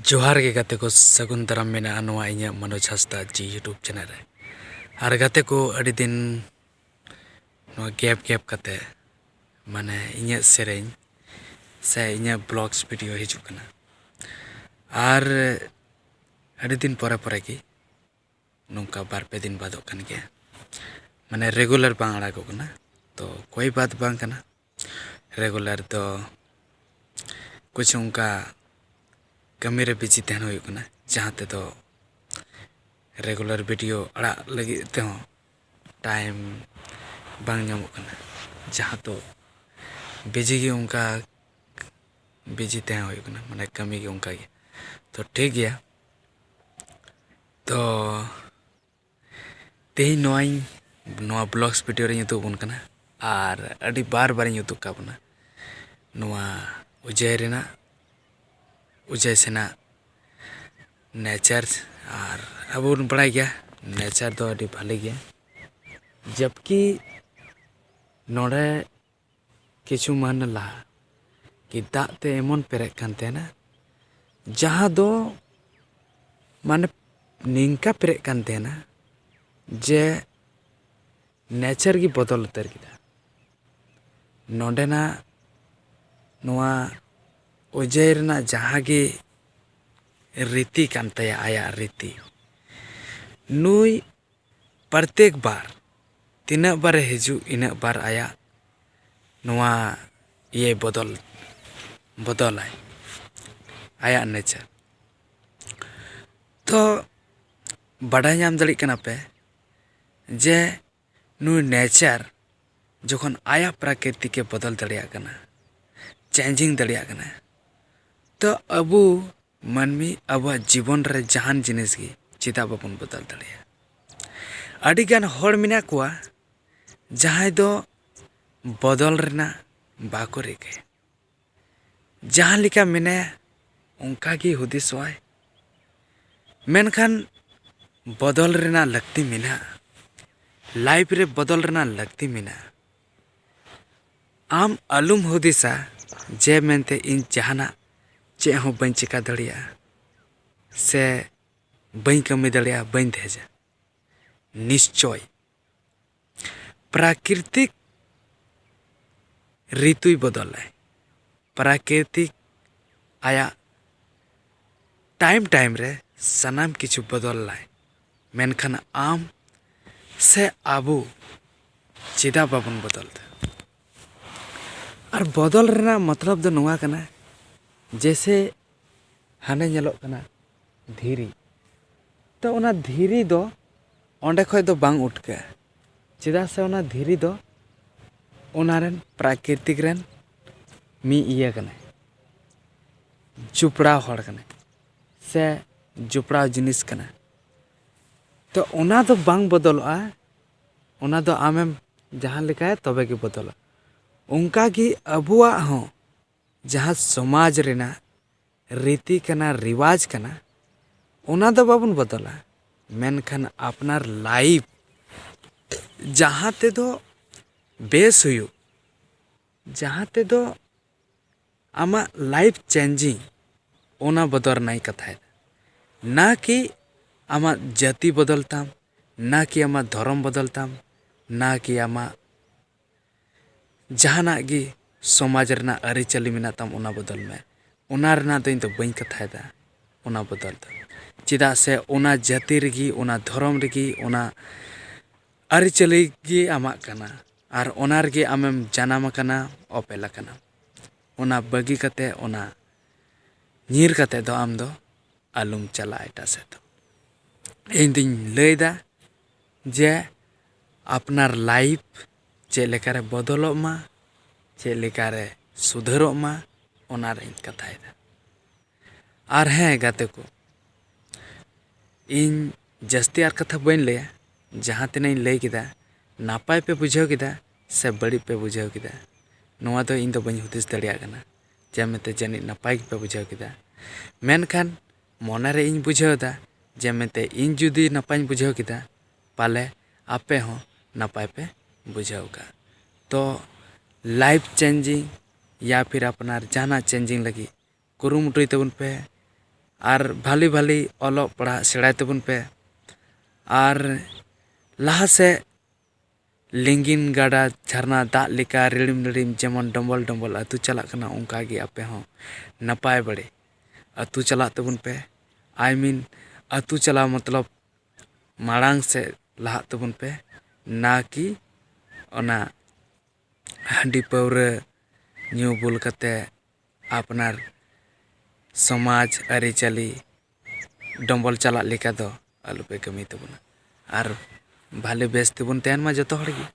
ᱡᱚᱦᱟᱨ ᱜᱮ ᱜᱟᱛᱮ ᱠᱚ ᱥᱟᱹᱜᱩᱱ ᱫᱟᱨᱟᱢ ᱢᱮᱱᱟᱜᱼᱟ ᱱᱚᱣᱟ ᱤᱧᱟᱹᱜ ᱢᱚᱱᱳᱡᱽ ᱦᱟᱸᱥᱫᱟ ᱡᱤ ᱤᱭᱩᱴᱩᱵᱽ ᱪᱮᱱᱮᱞ ᱨᱮ ᱟᱨ ᱜᱟᱛᱮ ᱠᱚ ᱟᱹᱰᱤ ᱫᱤᱱ ᱱᱚᱣᱟ ᱜᱮᱯ ᱜᱮᱯ ᱠᱟᱛᱮ ᱢᱟᱱᱮ ᱤᱧᱟᱹᱜ ᱥᱮᱨᱮᱧ ᱥᱮ ᱤᱧᱟᱹᱜ ᱵᱞᱚᱜᱽᱥ ᱵᱷᱤᱰᱤᱭᱳ ᱦᱤᱡᱩᱜ ᱠᱟᱱᱟ ᱟᱨ ᱟᱹᱰᱤ ᱫᱤᱱ ᱯᱚᱨᱮ ᱯᱚᱨᱮ ᱜᱮ ᱱᱚᱝᱠᱟ ᱵᱟᱨ ᱯᱮ ᱫᱤᱱ ᱵᱟᱫᱚᱜ ᱠᱟᱱ ᱜᱮᱭᱟ ᱢᱟᱱᱮ ᱨᱮᱜᱩᱞᱟᱨ ᱵᱟᱝ ᱟᱲᱟᱜᱚᱜ ᱠᱟᱱᱟ ᱛᱚ ᱠᱳᱭ ᱵᱟᱛ ᱵᱟᱝ ᱠᱟᱱᱟ ᱨᱮᱜᱩᱞᱟᱨ ᱫᱚ ᱠᱩᱪᱷᱩ ᱚᱱᱠᱟ ᱠᱟᱹᱢᱤ ᱨᱮ ᱵᱤᱡᱤ ᱛᱟᱦᱮᱱ ᱦᱩᱭᱩᱜ ᱠᱟᱱᱟ ᱡᱟᱦᱟᱸ ᱛᱮᱫᱚ ᱨᱮᱜᱩᱞᱟᱨ ᱵᱷᱤᱰᱤᱭᱳ ᱟᱲᱟᱜ ᱞᱟᱹᱜᱤᱫ ᱛᱮᱦᱚᱸ ᱴᱟᱭᱤᱢ ᱵᱟᱝ ᱧᱟᱢᱚᱜ ᱠᱟᱱᱟ ᱡᱟᱦᱟᱸ ᱫᱚ ᱵᱤᱡᱤ ᱜᱮ ᱚᱱᱠᱟ ᱵᱤᱡᱤ ᱛᱟᱦᱮᱸ ᱦᱩᱭᱩᱜ ᱠᱟᱱᱟ ᱢᱟᱱᱮ ᱠᱟᱹᱢᱤ ᱜᱮ ᱚᱱᱠᱟ ᱜᱮ ᱛᱚ ᱴᱷᱤᱠ ᱜᱮᱭᱟ ᱛᱚ ᱛᱮᱦᱮᱧ ᱱᱚᱣᱟᱧ ᱱᱚᱣᱟ ᱵᱞᱚᱜᱽᱥ ᱵᱷᱤᱰᱤᱭᱳ ᱨᱮᱧ ᱩᱫᱩᱜ ᱟᱵᱚᱱ ᱠᱟᱱᱟ ᱟᱨ ᱟᱹᱰᱤ ᱵᱟᱨ ᱵᱟᱨᱤᱧ ᱩᱫᱩᱜ ᱠᱟᱜ ᱵᱚᱱᱟ ᱱᱚᱣᱟ ᱩᱡᱟᱹᱭ ᱨᱮᱱᱟᱜ ᱩᱡᱟᱹᱭ ᱥᱮᱱᱟᱜ ᱱᱮᱪᱟᱨ ᱟᱨ ᱟᱵᱚ ᱵᱚᱱ ᱵᱟᱲᱟᱭ ᱜᱮᱭᱟ ᱱᱮᱪᱟᱨ ᱫᱚ ᱟᱹᱰᱤ ᱵᱷᱟᱞᱮ ᱜᱮᱭᱟ ᱡᱚᱵᱽᱠᱤ ᱱᱚᱰᱮ ᱠᱤᱪᱷᱩ ᱢᱟᱹᱦᱱᱟᱹ ᱞᱟᱦᱟ ᱜᱮ ᱫᱟᱜ ᱛᱮ ᱮᱢᱚᱱ ᱯᱮᱨᱮᱡ ᱠᱟᱱ ᱛᱟᱦᱮᱱᱟ ᱡᱟᱦᱟᱸ ᱫᱚ ᱢᱟᱱᱮ ᱱᱤᱝᱠᱟ ᱯᱮᱨᱮᱡ ᱠᱟᱱ ᱛᱟᱦᱮᱱᱟ ᱡᱮ ᱱᱮᱪᱟᱨ ᱜᱮ ᱵᱚᱫᱚᱞ ᱩᱛᱟᱹᱨ ᱠᱮᱫᱟ ᱱᱚᱰᱮᱱᱟᱜ ᱱᱚᱣᱟ ᱚᱡᱚᱭ ᱨᱮᱱᱟᱜ ᱡᱟᱦᱟᱸ ᱜᱮ ᱨᱤᱛᱤ ᱠᱟᱱ ᱛᱟᱭᱟ ᱟᱭᱟᱜ ᱨᱤᱛᱤ ᱱᱩᱭ ᱯᱨᱚᱛᱮᱠ ᱵᱟᱨ ᱛᱤᱱᱟᱹᱜ ᱵᱟᱨᱮ ᱦᱤᱡᱩᱜ ᱤᱱᱟᱹᱜ ᱵᱟᱨ ᱟᱭᱟᱜ ᱱᱚᱣᱟ ᱤᱭᱟᱹᱭ ᱵᱚᱫᱚᱞ ᱵᱚᱫᱚᱞᱟᱭ ᱟᱭᱟᱜ ᱱᱮᱪᱟᱨ ᱛᱚ ᱵᱟᱰᱟᱭ ᱧᱟᱢ ᱫᱟᱲᱮᱭᱟᱜ ᱠᱟᱱᱟ ᱯᱮ ᱡᱮ ᱱᱩᱭ ᱱᱮᱪᱟᱨ ᱡᱚᱠᱷᱚᱱ ᱟᱭᱟᱜ ᱯᱨᱟᱠᱨᱤᱛᱤᱠᱮ ᱵᱚᱫᱚᱞ ᱫᱟᱲᱮᱭᱟᱜ ᱠᱟᱱᱟ ᱪᱮᱧᱡᱤᱝ ᱫᱟᱲᱮᱭᱟᱜ ᱠᱟᱱᱟ ᱛᱚ ᱟᱵᱚ ᱢᱟᱹᱱᱢᱤ ᱟᱵᱚᱣᱟᱜ ᱡᱤᱵᱚᱱ ᱨᱮ ᱡᱟᱦᱟᱱ ᱡᱤᱱᱤᱥ ᱜᱮ ᱪᱮᱫᱟᱜ ᱵᱟᱵᱚᱱ ᱵᱚᱫᱚᱞ ᱫᱟᱲᱮᱭᱟᱜᱼᱟ ᱟᱹᱰᱤ ᱜᱟᱱ ᱦᱚᱲ ᱢᱮᱱᱟᱜ ᱠᱚᱣᱟ ᱡᱟᱦᱟᱸᱭ ᱫᱚ ᱵᱚᱫᱚᱞ ᱨᱮᱱᱟᱜ ᱵᱟᱠᱚ ᱨᱤᱠᱟᱹᱭᱟ ᱡᱟᱦᱟᱸ ᱞᱮᱠᱟ ᱢᱮᱱᱟᱭᱟ ᱚᱱᱠᱟ ᱜᱮ ᱦᱩᱫᱤᱥᱚᱜᱼᱟᱭ ᱢᱮᱱᱠᱷᱟᱱ ᱵᱚᱫᱚᱞ ᱨᱮᱱᱟᱜ ᱞᱟᱹᱠᱛᱤ ᱢᱮᱱᱟᱜᱼᱟ ᱞᱟᱭᱤᱯᱷ ᱨᱮ ᱵᱚᱫᱚᱞ ᱨᱮᱱᱟᱜ ᱞᱟᱹᱠᱛᱤ ᱢᱮᱱᱟᱜᱼᱟ ᱟᱢ ᱟᱞᱚᱢ ᱦᱩᱫᱤᱥᱟ ᱡᱮ ᱢᱮᱱᱛᱮ ᱤᱧ ᱡᱟᱦᱟᱱᱟᱜ ᱪᱮᱫ ᱦᱚᱸ ᱵᱟᱹᱧ ᱪᱤᱠᱟᱹ ᱫᱟᱲᱮᱭᱟᱜᱼᱟ ᱥᱮ ᱵᱟᱹᱧ ᱠᱟᱹᱢᱤ ᱫᱟᱲᱮᱭᱟᱜᱼᱟ ᱵᱟᱹᱧ ᱫᱷᱮᱡᱟ ᱱᱤᱥᱪᱳᱭ ᱯᱨᱟᱠᱨᱤᱛᱤᱠ ᱨᱤᱛᱩᱭ ᱵᱚᱫᱚᱞᱟᱭ ᱯᱨᱟᱠᱨᱤᱛᱤᱠ ᱟᱭᱟᱜ ᱴᱟᱭᱤᱢ ᱴᱟᱭᱤᱢ ᱨᱮ ᱥᱟᱱᱟᱢ ᱠᱤᱪᱷᱩ ᱵᱚᱫᱚᱞᱟᱭ ᱢᱮᱱᱠᱷᱟᱱ ᱟᱢ ᱥᱮ ᱟᱵᱚ ᱪᱮᱫᱟᱜ ᱵᱟᱵᱚᱱ ᱵᱚᱫᱚᱞ ᱮᱫᱟ ᱟᱨ ᱵᱚᱫᱚᱞ ᱨᱮᱱᱟᱜ ᱢᱚᱛᱞᱚᱵ ᱫᱚ ᱱᱚᱣᱟ ᱠᱟᱱᱟ ᱡᱮᱭᱥᱮ ᱦᱟᱱᱮ ᱧᱮᱞᱚᱜ ᱠᱟᱱᱟ ᱫᱷᱤᱨᱤ ᱛᱚ ᱚᱱᱟ ᱫᱷᱤᱨᱤ ᱫᱚ ᱚᱸᱰᱮ ᱠᱷᱚᱱ ᱫᱚ ᱵᱟᱝ ᱩᱴᱠᱟᱹᱜᱼᱟ ᱪᱮᱫᱟᱜ ᱥᱮ ᱚᱱᱟ ᱫᱷᱤᱨᱤ ᱫᱚ ᱚᱱᱟ ᱨᱮᱱ ᱯᱨᱟᱠᱨᱤᱛᱤᱠ ᱨᱮᱱ ᱢᱤᱫ ᱤᱭᱟᱹ ᱠᱟᱱᱟᱭ ᱡᱚᱯᱲᱟᱣ ᱦᱚᱲ ᱠᱟᱱᱟᱭ ᱥᱮ ᱡᱚᱯᱲᱟᱣ ᱡᱤᱱᱤᱥ ᱠᱟᱱᱟ ᱛᱚ ᱚᱱᱟ ᱫᱚ ᱵᱟᱝ ᱵᱚᱫᱚᱞᱚᱜᱼᱟ ᱚᱱᱟ ᱫᱚ ᱟᱢᱮᱢ ᱡᱟᱦᱟᱸ ᱞᱮᱠᱟᱭᱟ ᱛᱚᱵᱮ ᱜᱮ ᱵᱚᱫᱚᱞᱚᱜᱼᱟ ᱚᱱᱠᱟ ᱜᱮ ᱟᱵᱚᱣᱟᱜ ᱦᱚᱸ ᱡᱟᱦᱟᱸ ᱥᱚᱢᱟᱡᱽ ᱨᱮᱱᱟᱜ ᱨᱤᱛᱤ ᱠᱟᱱᱟ ᱨᱮᱣᱟᱡᱽ ᱠᱟᱱᱟ ᱚᱱᱟ ᱫᱚ ᱵᱟᱵᱚᱱ ᱵᱚᱫᱚᱞᱟ ᱢᱮᱱᱠᱷᱟᱱ ᱟᱯᱱᱟᱨ ᱞᱟᱭᱤᱯᱷ ᱡᱟᱦᱟᱸ ᱛᱮᱫᱚ ᱵᱮᱥ ᱦᱩᱭᱩᱜ ᱡᱟᱦᱟᱸ ᱛᱮᱫᱚ ᱟᱢᱟᱜ ᱞᱟᱭᱤᱯᱷ ᱪᱮᱧᱡᱤᱝ ᱚᱱᱟ ᱵᱚᱫᱚᱞ ᱨᱮᱱᱟᱜ ᱤᱧ ᱠᱟᱛᱷᱟᱭᱮᱫᱟ ᱱᱟ ᱠᱤ ᱟᱢᱟᱜ ᱡᱟᱹᱛᱤ ᱵᱚᱫᱚᱞ ᱛᱟᱢ ᱱᱟ ᱠᱤ ᱟᱢᱟᱜ ᱫᱷᱚᱨᱚᱢ ᱵᱚᱫᱚᱞ ᱛᱟᱢ ᱱᱟ ᱠᱤ ᱟᱢᱟᱜ ᱡᱟᱦᱟᱱᱟᱜ ᱜᱮ ᱥᱚᱢᱟᱡᱽ ᱨᱮᱱᱟᱜ ᱟᱹᱨᱤᱪᱟᱹᱞᱤ ᱢᱮᱱᱟᱜ ᱛᱟᱢ ᱚᱱᱟ ᱵᱚᱫᱚᱞ ᱢᱮ ᱚᱱᱟ ᱨᱮᱱᱟᱜ ᱫᱚ ᱤᱧ ᱫᱚ ᱵᱟᱹᱧ ᱠᱟᱛᱷᱟᱭᱮᱫᱟ ᱚᱱᱟ ᱵᱚᱫᱚᱞ ᱫᱚ ᱪᱮᱫᱟᱜ ᱥᱮ ᱚᱱᱟ ᱡᱟᱹᱛᱤ ᱨᱮᱜᱮ ᱚᱱᱟ ᱫᱷᱚᱨᱚᱢ ᱨᱮᱜᱮ ᱚᱱᱟ ᱟᱹᱨᱤᱪᱟᱹᱞᱤ ᱜᱮ ᱟᱢᱟᱜ ᱠᱟᱱᱟ ᱟᱨ ᱚᱱᱟ ᱨᱮᱜᱮ ᱟᱢᱮᱢ ᱡᱟᱱᱟᱢ ᱟᱠᱟᱱᱟ ᱚᱯᱮᱞ ᱟᱠᱟᱱᱟᱢ ᱚᱱᱟ ᱵᱟᱹᱜᱤ ᱠᱟᱛᱮᱫ ᱚᱱᱟ ᱧᱤᱨ ᱠᱟᱛᱮᱫ ᱫᱚ ᱟᱢᱫᱚ ᱟᱞᱚᱢ ᱪᱟᱞᱟᱜᱼᱟ ᱮᱴᱟᱜ ᱥᱮᱫ ᱫᱚ ᱤᱧᱫᱩᱧ ᱞᱟᱹᱭᱫᱟ ᱡᱮ ᱟᱯᱱᱟᱨ ᱞᱟᱭᱤᱯᱷ ᱪᱮᱫ ᱞᱮᱠᱟᱨᱮ ᱵᱚᱫᱚᱞᱚᱜ ᱢᱟ ᱪᱮᱫ ᱞᱮᱠᱟᱨᱮ ᱥᱩᱫᱷᱟᱹᱨᱚᱜ ᱢᱟ ᱚᱱᱟ ᱨᱮᱭᱟᱜ ᱤᱧ ᱠᱟᱛᱷᱟᱭᱮᱫᱟ ᱟᱨ ᱦᱮᱸ ᱜᱟᱛᱮ ᱠᱚ ᱤᱧ ᱡᱟᱹᱥᱛᱤ ᱟᱨ ᱠᱟᱛᱷᱟ ᱵᱟᱹᱧ ᱞᱟᱹᱭᱟ ᱡᱟᱦᱟᱸ ᱛᱤᱱᱟᱹᱜ ᱤᱧ ᱞᱟᱹᱭ ᱠᱮᱫᱟ ᱱᱟᱯᱟᱭ ᱯᱮ ᱵᱩᱡᱷᱟᱹᱣ ᱠᱮᱫᱟ ᱥᱮ ᱵᱟᱹᱲᱤᱡ ᱯᱮ ᱵᱩᱡᱷᱟᱹᱣ ᱠᱮᱫᱟ ᱱᱚᱣᱟ ᱫᱚ ᱤᱧ ᱫᱚ ᱵᱟᱹᱧ ᱦᱩᱫᱤᱥ ᱫᱟᱲᱮᱭᱟᱜ ᱠᱟᱱᱟ ᱡᱮ ᱢᱮᱱᱛᱮ ᱡᱟᱹᱱᱤᱡ ᱱᱟᱯᱟᱭ ᱜᱮᱯᱮ ᱵᱩᱡᱷᱟᱹᱣ ᱠᱮᱫᱟ ᱢᱮᱱᱠᱷᱟᱱ ᱢᱚᱱᱮ ᱨᱮ ᱤᱧ ᱵᱩᱡᱷᱟᱹᱣ ᱮᱫᱟ ᱡᱮ ᱢᱮᱱᱛᱮ ᱤᱧ ᱡᱩᱫᱤ ᱱᱟᱯᱟᱭᱤᱧ ᱵᱩᱡᱷᱟᱹᱣ ᱠᱮᱫᱟ ᱯᱟᱞᱮ ᱟᱯᱮ ᱦᱚᱸ ᱱᱟᱯᱟᱭ ᱯᱮ ᱵᱩᱡᱷᱟᱹᱣ ᱟᱠᱟᱫᱼᱟ ᱛᱚ ᱞᱟᱭᱤᱯᱷ ᱪᱮᱧᱡᱤᱝ ᱭᱟ ᱯᱷᱤᱨ ᱟᱯᱱᱟᱨ ᱡᱟᱦᱟᱱᱟᱜ ᱪᱮᱧᱡᱤᱝ ᱞᱟᱹᱜᱤᱫ ᱠᱩᱨᱩᱢᱩᱴᱩᱭ ᱛᱟᱵᱚᱱ ᱯᱮ ᱟᱨ ᱵᱷᱟᱞᱮ ᱵᱷᱟᱞᱮ ᱚᱞᱚᱜ ᱯᱟᱲᱦᱟᱜ ᱥᱮᱬᱟᱭ ᱛᱟᱵᱚᱱ ᱯᱮ ᱟᱨ ᱞᱟᱦᱟ ᱥᱮᱫ ᱞᱤᱸᱜᱤᱱ ᱜᱟᱰᱟ ᱡᱷᱟᱨᱱᱟ ᱫᱟᱜ ᱞᱮᱠᱟ ᱨᱤᱲᱤᱢ ᱨᱤᱲᱤᱢ ᱡᱮᱢᱚᱱ ᱰᱚᱢᱵᱚᱞ ᱰᱚᱢᱵᱚᱞ ᱟᱹᱛᱩ ᱪᱟᱞᱟᱜ ᱠᱟᱱᱟ ᱚᱱᱠᱟ ᱜᱮ ᱟᱯᱮ ᱦᱚᱸ ᱱᱟᱯᱟᱭ ᱵᱟᱲᱮ ᱟᱹᱛᱩ ᱪᱟᱞᱟᱜ ᱛᱟᱵᱚᱱ ᱯᱮ ᱟᱭ ᱢᱤᱱ ᱟᱹᱛᱩ ᱪᱟᱞᱟᱣ ᱢᱚᱛᱞᱚᱵ ᱢᱟᱲᱟᱝ ᱥᱮᱫ ᱞᱟᱦᱟᱜ ᱛᱟᱵᱚᱱ ᱯᱮ ᱱᱟ ᱠᱤ ᱚᱱᱟ ᱦᱟᱺᱰᱤ ᱯᱟᱹᱣᱨᱟᱹ ᱧᱩ ᱵᱩᱞ ᱠᱟᱛᱮᱫ ᱟᱯᱱᱟᱨ ᱥᱚᱢᱟᱡᱽ ᱟᱹᱨᱤᱪᱟᱹᱞᱤ ᱰᱚᱢᱵᱚᱞ ᱪᱟᱞᱟᱜ ᱞᱮᱠᱟ ᱫᱚ ᱟᱞᱚᱯᱮ ᱠᱟᱹᱢᱤ ᱛᱟᱵᱚᱱᱟ ᱟᱨ ᱵᱷᱟᱞᱮ ᱵᱮᱥ ᱛᱮᱵᱚᱱ ᱛᱟᱦᱮᱱ ᱢᱟ ᱡᱚᱛᱚ ᱦᱚᱲᱜᱮ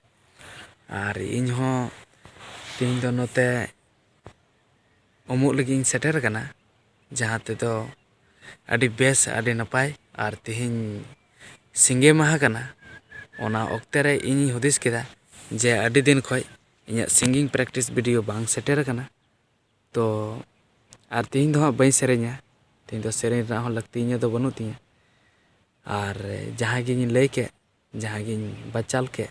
ᱟᱨ ᱤᱧ ᱦᱚᱸ ᱛᱮᱦᱮᱧ ᱫᱚ ᱱᱚᱛᱮ ᱩᱢᱩᱜ ᱞᱟᱹᱜᱤᱫ ᱤᱧ ᱥᱮᱴᱮᱨ ᱟᱠᱟᱱᱟ ᱡᱟᱦᱟᱸ ᱛᱮᱫᱚ ᱟᱹᱰᱤ ᱵᱮᱥ ᱟᱹᱰᱤ ᱱᱟᱯᱟᱭ ᱟᱨ ᱛᱮᱦᱮᱧ ᱥᱤᱸᱜᱮ ᱢᱟᱦᱟ ᱠᱟᱱᱟ ᱚᱱᱟ ᱚᱠᱛᱮ ᱨᱮ ᱤᱧᱤᱧ ᱦᱩᱫᱤᱥ ᱠᱮᱫᱟ ᱡᱮ ᱟᱹᱰᱤ ᱫᱤᱱ ᱠᱷᱚᱱ ᱤᱧᱟᱹᱜ ᱥᱤᱸᱜᱤᱝ ᱯᱨᱮᱠᱴᱤᱥ ᱵᱷᱤᱰᱭᱳ ᱵᱟᱝ ᱥᱮᱴᱮᱨ ᱟᱠᱟᱱᱟ ᱛᱚ ᱟᱨ ᱛᱮᱦᱮᱧ ᱫᱚ ᱦᱟᱸᱜ ᱵᱟᱹᱧ ᱥᱮᱨᱮᱧᱟ ᱛᱮᱦᱮᱧ ᱫᱚ ᱥᱮᱨᱮᱧ ᱨᱮᱱᱟᱜ ᱦᱚᱸ ᱞᱟᱹᱠᱛᱤ ᱤᱧᱟᱹᱜ ᱫᱚ ᱵᱟᱹᱱᱩᱜ ᱛᱤᱧᱟᱹ ᱟᱨ ᱡᱟᱦᱟᱸ ᱜᱮᱧ ᱞᱟᱹᱭ ᱠᱮᱫ ᱡᱟᱦᱟᱸ ᱜᱮᱧ ᱵᱟᱪᱟᱞ ᱠᱮᱫ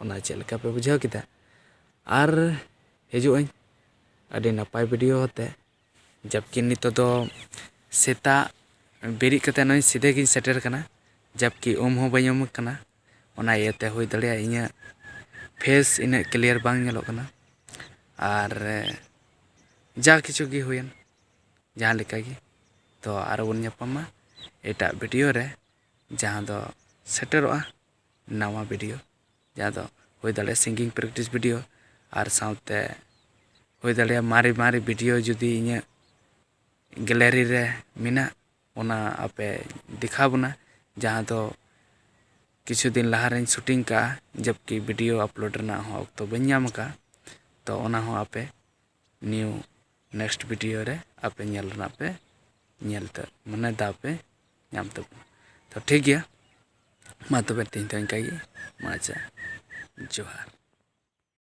ᱚᱱᱟ ᱪᱮᱫ ᱞᱮᱠᱟ ᱯᱮ ᱵᱩᱡᱷᱟᱹᱣ ᱠᱮᱫᱟ ᱟᱨ ᱦᱤᱡᱩᱜ ᱟᱹᱧ ᱟᱹᱰᱤ ᱱᱟᱯᱟᱭ ᱵᱷᱤᱰᱤᱭᱳ ᱟᱛᱮᱫ ᱡᱟᱵᱽᱠᱤ ᱱᱤᱛᱚᱜ ᱫᱚ ᱥᱮᱛᱟᱜ ᱵᱮᱨᱮᱫ ᱠᱟᱛᱮᱫ ᱱᱚᱜᱼᱚᱭ ᱥᱤᱫᱷᱟᱹ ᱜᱮᱧ ᱥᱮᱴᱮᱨ ᱠᱟᱱᱟ ᱡᱟᱵᱽᱠᱤ ᱩᱢ ᱦᱚᱸ ᱵᱟᱹᱧ ᱩᱢ ᱠᱟᱱᱟ ᱚᱱᱟ ᱤᱭᱟᱹᱛᱮ ᱦᱩᱭ ᱫᱟᱲᱮᱭᱟᱜᱼᱟ ᱤᱧᱟᱹᱜ ᱯᱷᱮᱥ ᱤᱱᱟᱹᱜ ᱠᱞᱤᱭᱟᱨ ᱵᱟᱝ ᱧᱮᱞᱚᱜ ᱠᱟᱱᱟ ᱟᱨ ᱡᱟ ᱠᱤᱪᱷᱩ ᱜᱮ ᱦᱩᱭᱮᱱ ᱡᱟᱦᱟᱸ ᱞᱮᱠᱟ ᱜᱮ ᱛᱚ ᱟᱨᱚ ᱵᱚᱱ ᱧᱟᱯᱟᱢᱟ ᱮᱴᱟᱜ ᱵᱷᱤᱰᱤᱭᱳ ᱨᱮ ᱡᱟᱦᱟᱸ ᱫᱚ ᱥᱮᱴᱮᱨᱚᱜᱼᱟ ᱱᱟᱣᱟ ᱵᱷᱤᱰᱤᱭᱳ ᱡᱟᱦᱟᱸ ᱫᱚ ᱦᱩᱭ ᱫᱟᱲᱮᱭᱟᱜᱼᱟ ᱥᱤᱝᱜᱤᱝ ᱯᱨᱮᱠᱴᱤᱥ ᱵᱷᱤᱰᱤᱭᱳ ᱟᱨ ᱥᱟᱶᱛᱮ ᱦᱩᱭ ᱫᱟᱲᱮᱭᱟᱜᱼᱟ ᱢᱟᱨᱮ ᱢᱟᱨᱮ ᱵᱷᱤᱰᱤᱭᱳ ᱡᱩᱫᱤ ᱤᱧᱟᱹᱜ ᱜᱮᱞᱟᱨᱤ ᱨᱮ ᱢᱮᱱᱟᱜ ᱚᱱᱟ ᱟᱯᱮ ᱫᱮᱠᱷᱟᱣ ᱵᱚᱱᱟ ᱡᱟᱦᱟᱸ ᱫᱚ ᱠᱤᱪᱷᱩ ᱫᱤᱱ ᱞᱟᱦᱟ ᱨᱮᱧ ᱥᱩᱴᱤᱝ ᱠᱟᱜᱼᱟ ᱡᱚᱵᱽᱠᱤ ᱵᱷᱤᱰᱤᱭᱳ ᱟᱯᱞᱳᱰ ᱨᱮᱱᱟᱜ ᱦᱚᱸ ᱚᱠᱛᱚ ᱵᱟᱹᱧ ᱧᱟᱢ ᱠᱟᱜᱼᱟ ᱛᱚ ᱚᱱᱟ ᱦᱚᱸ ᱟᱯᱮ ᱱᱤᱭᱩ ᱱᱮᱠᱥᱴ ᱵᱷᱤᱰᱤᱭᱳ ᱨᱮ ᱟᱯᱮ ᱧᱮᱞ ᱨᱮᱱᱟᱜ ᱯᱮ ᱧᱮᱞ ᱛᱮ ᱢᱟᱱᱮ ᱫᱟᱣ ᱯᱮ ᱧᱟᱢ ᱛᱟᱵᱚᱱᱟ ᱛᱚ ᱴᱷᱤᱠ ᱜᱮᱭᱟ ᱢᱟ ᱛᱚᱵᱮ ᱛᱮᱦᱮᱧ ᱫᱚ ᱤᱱᱠᱟᱹ ᱜᱮ ᱢᱟ ᱟᱪᱪᱷᱟ ᱡᱚᱦᱟᱨ